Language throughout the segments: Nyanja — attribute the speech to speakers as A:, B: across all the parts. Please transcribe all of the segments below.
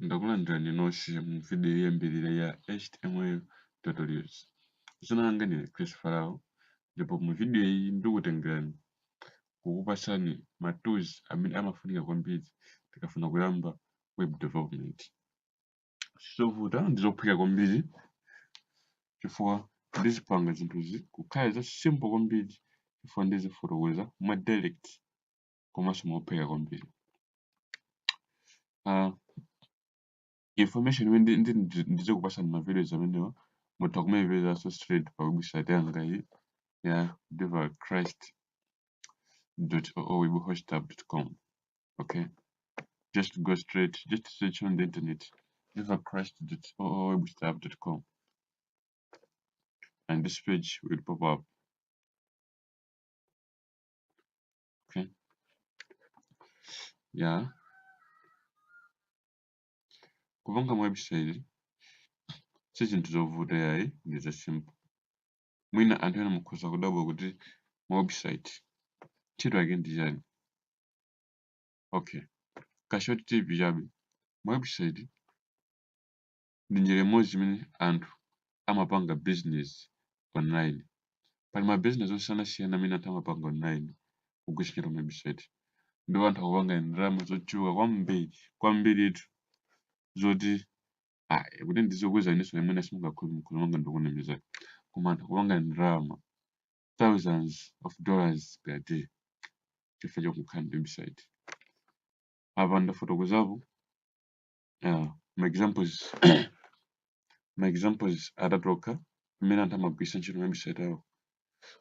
A: Ndakulandirani nonse mu vidiyo yoyambirira ya HTML tutorials. Dzina langa ndine Chris Farao ndipo mu vidiyo iyi ndikutengerani kukupatsani ma tools amene amafunika kwambiri tikafuna kuyamba web development. Sizovuta ndi zophweka kwambiri chifukwa ndizipanga zinthuzi kukhala za simple kwambiri chifukwa ndizifotokoza mwa direct komanso mophweka kwambiri uh, information imene ndi- ndi- ndi- ndizikupatsani ma videos amenewa mutha kumaipezanso straight pa website yanga iyi ya divalchrist oowebhostapp.com okay just go straight just search on the internet divalchrist oowebhostapp.com and this page will pop up Okay. Ya. Kupanga ma website si zinthu zovuta yayi ndi za simple. Mwina anthu ena mukhoza kudabwa kuti ma website ntchito yake ndi chani. Okay. Ka short tip chabe. Ma website ndi njira imodzi imene anthu amapanga business online. Pali ma business osiyanasiyana amene anthu amapanga online kugwiritsa ntchito ma website ndipo anthu akupanga ndalama zochuluka kwambiri kwambiritu zoti ayi kuti ndikuuzeni inenso imene simungakhulupirire muona ngati ndikunamiza koma anthu akupanga ndalama thousands of dollars per day chifukwa chokukhala ndi website. Apa ndafotokozapo uh, ma examples ma examples atatu okha mmene anthu amagwiritsa ntchito ma website awo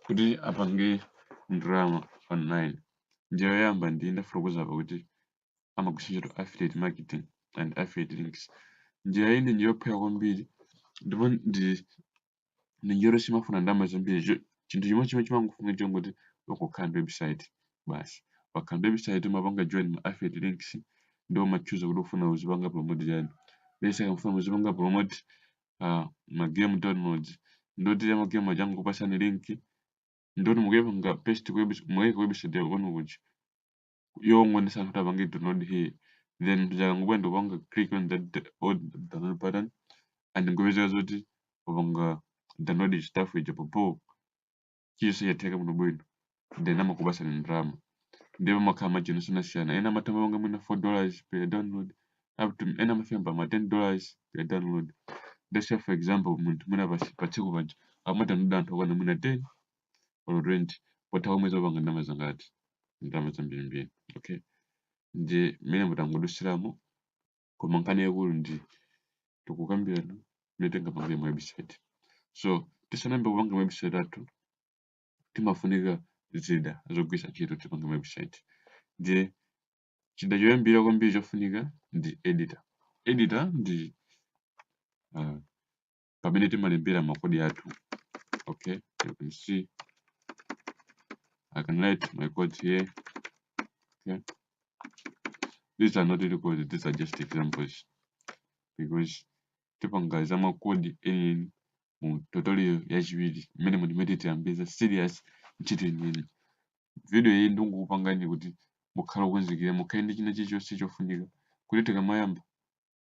A: kuti apange ndalama online njira yoyamba ndi ndafotokoza apa kuti amagwiritsa ntchito affiliate marketing and affiliate links njira iyi ndi njira yophweka kwambiri ndipo ndi njira yoti simafuna ndalama zambiri cho- chinthu chimodzi chimene chimangofunika chongoti ukukhala ndi website basi wakhala ndi website umapanga join ma affiliate links nde umatchuza kuti ufuna uzipanga promote chani let's say mukufuna muzipanga promote uh, ma game downloads ndoti ya ma game aja angokupasani link ndoti mukuyipanga paste ku webs- mukuyika ku website yanu kuja yongonesa anthu kuti apange download here then munthu akangobwera ndikupanga click on that d- old download button and nkupezeka zoti wapanga download stuff ija popo chilichonse chatheka bwino bwino then amakupasani ndalama ndipo amakhala ma channel osiyanasiyana ena amatha kumapanga mwina 4 dollars per download up to ena amafika mpaka ma 10 dollars per download let's say for example munthu mwina pa pa tsiku paja amadownload anthu okwana mwina 10 or rent potha pa mwezi wapanga ndalama zangati ndalama zambirimbiri okay ndi mmene mutangodusiramo koma nkhani yaikulu ndi tikukambirana mmene tingapangire ma website so tisanayambe kupanga ma website athu timafunika zida zogwiritsa ntchito tipange ma website ndiye chida choyambira kwambiri chofunika ndi editor editor ndi uh, pamene timalembera makodi athu okay you can see I can write my code here okay these are not really codes these are just examples because tipanga za makodi enieni mu tutorial yachiwiri mmene muti m'mene tiyambe za serious ntchito yeniyeni video iyi ndi yokupangani kuti mukhale okonzekera mukhale ndi china chilichonse chofunika kuti tikamayamba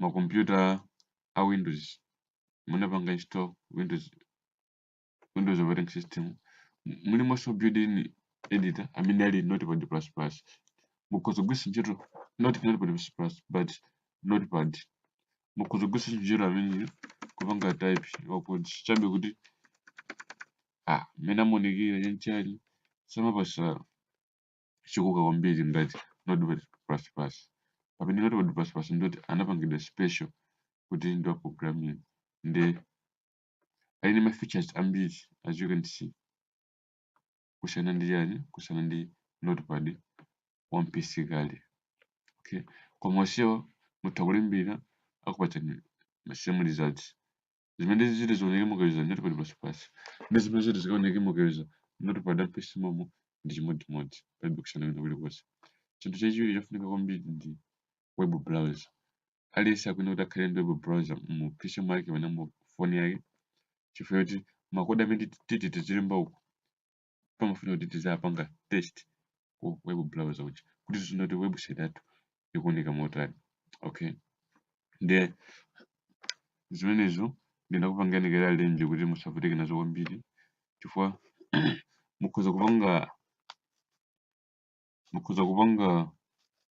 A: makompyuta a windows munapanga install windows windows operating system mulimonso built-in editor amene ali notepad plus plus mukhoza kugwiritsa ntchito not notepad plus plus but notepad mukhoza kugwiritsa ntchito ameneyo kupanga type ma code chabe kuti ah mmene amaonekera chanichani samapatsa chikoka kwambiri ngati notepad plus plus pamene notepad plus plus ndoti anapangidwa special kuti ndi wa programming nde ali ndi ma features ambiri as you can see kusiyana ndi ujeni kusiyana ndi notepad wa mu pc kale okay koma onsewa mutha kulembera akupatsani ma same results zimene ziti zioneke mukayuza notepad plus plus ndi zimene ziti zikaoneke mukayuza notepad wa mu pc momo ndi chimodzimodzi palibe kusiyana kwina kulikonse chinthu chachiwiri chofunika kwambiri ndi web browser aliyense akuyenera kuti akhale ndi web browser mu pc mwake kapena mu foni yake chifukwa choti makodi amene titi tizilemba uku pamafunika kuti tiziwapanga test ku web browser uja kuti tiziona kuti website yathu ikuoneka motani okay nde zimenezo ndinakupangani kale arrange kuti musavutike nazo kwambiri chifukwa mukhoza kupanga mukhoza kupanga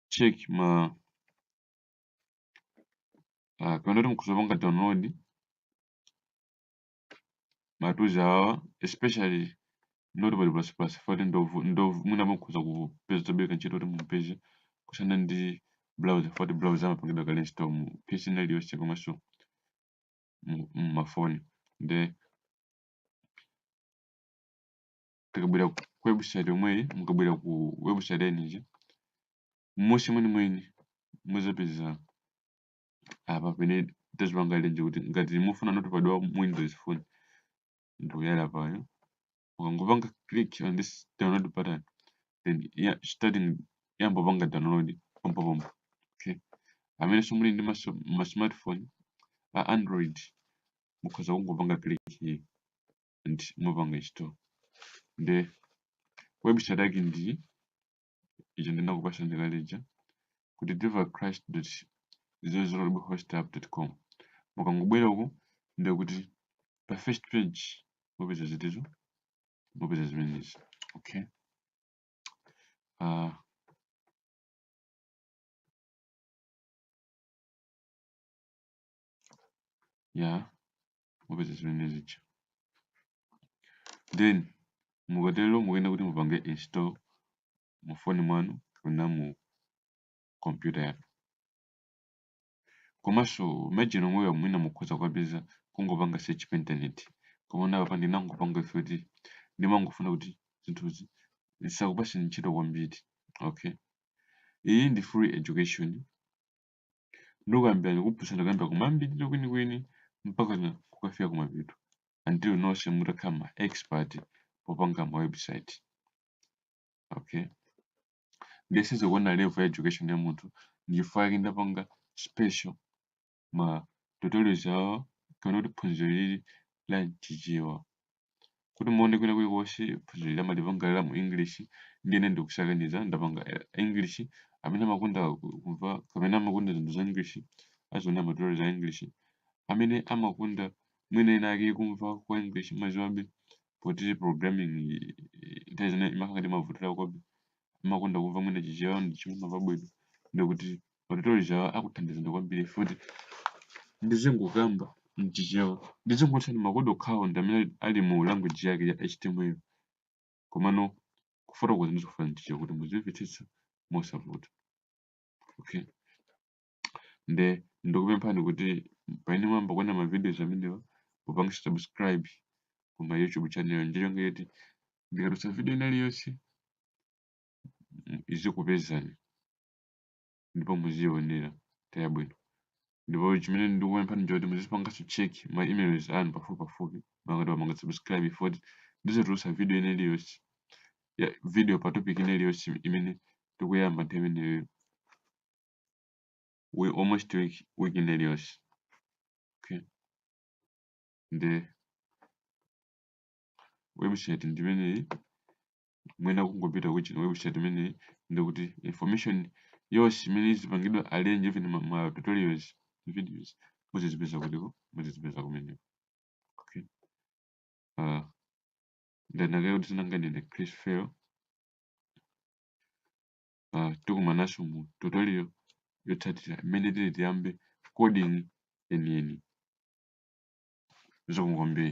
A: check ma uh, kapena kuti mukhoza kupanga download ma tools awa especially notepad plus plus foti ndovu ndovu mwina mukhoza kupeza tabeba ntchito kuti mupeze kusiyana ndi browser foti browser amapangidwa kale install mu pc ina iliyonse komanso mumafoni nde tikabwera ku website yomweyi mukabwera ku website ya ujeni m'munsi mwenimweni muzapeza apa pene tazipanga arrange kuti ngati mufuna Notepad wa mu Windows phone ndi uyu apayu mukangopanga click on this download button then yeah, iziyamba kupanga download pompo pompo okay amenenso muli ndi ma smartphone a android mukhoza kungopanga click here and mupanga install nde website yake ndi ija ndinakupasani kale lija kuti divacrist com mukangobwera uku ndiye kuti pa first page mupeza zitizo mupeza zimenezi okay uh, ya mupeza zimenezi then mukatero mukuyenera kuti mupange install mu foni mwanu kapena mu kompyuta yanu komanso ma-IDE omwewa mwina mukhoza kukapeza kungopanga search pa intaneti komano apa ndinangopanga ife kuti ndimangofuna kuti zinthuzi zisakupaseni ntchito kwambiri okay iyi ndi free education ndikuyambirani kuphunzitsa kuyambira kumayambiriro kwenikweni mpakana kukafika kumapeto until nonse mutakhala ma expert popanga ma website okay ndiyesetsa kuona level ya education ya munthu ndichifukwa chake ndapanga special ma tutorials awa kapena kuti phunziro lili la mchichewa kuti mukaona kwina kulikonse phunziro ili amalipanga la mu english ndiye ine ndikusakaniza ndapanga eh, english amene amakonda ku- kumva kapena amakonda zinthu za english aziona ma tutorials a english amene amakonda mwina ena ake kumva kwa english maziwabe poti programming i- i- nthawi zina imakhala ndi mavuto akebe amakonda kumva mwina chichewa ndi chomwe amamva bwino ndekuti Ma tutorials awa akuthandizani kwambiri ife kuti ndizingokamba m'Chichewa. Ndizingochotsa makodi okhawo ndi amene ali mu language yake ya HTML. Komano kufotokoza ndizifotokoza m'Chichewa kuti muzimvetsetsa mosavuta. Okay. Nde ndikupemphani kuti pamene mwayamba kuona ma videos amenewa mupange subscribe ku my YouTube channel ndi cholinga choti ndikatulutsa video ina iliyonse izikupezani. ndipo muziyionera nthawi yabwino ndipo chimene ndikupemphani nchoti muzipanganso check ma emails anu pafupipafupi ngati mwapanga subscribe poti ndizitulutsa video ina iliyonse ya video pa topic ina iliyonse imene tikuyamba nthawi imeneyo almost week ina iliyonse okay nde website ndi imeneyi mwina kungopita ku chino website imeneyi ndikuti information yonse imene izipangidwa arrange even ma, ma tutorials videos muzizipeza kutiko muzizipeza kumeneko okay uh, ndanakayo kuti sinanganene chris fail uh, tikumananso mu tutorial yotsatira imene tili tiyambe coding yeniyeni zikomo kwambiri